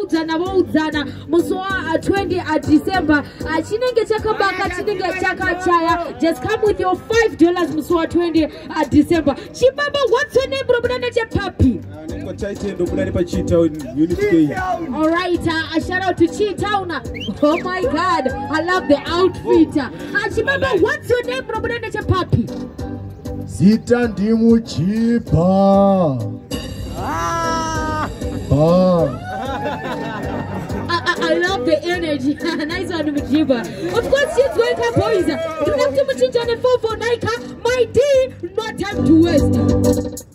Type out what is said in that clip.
voudzana voudzana musi wa 20 uh, adecember uh, chinenge chakabaka chinenge chakachaya just come with your 5 dollars musi wa 20 adecember uh, chibaba what's your name robuda nechepapi alright a shout out to chitown oh my god i love the outfit chibaba what's your name robuda nechepapi zita ndimuchipa ah! ah. I love the energy. nice one, Mujiba. Of course, she's going up, boys. Tunamtu mchinjane 449 ka. My D, no time to waste.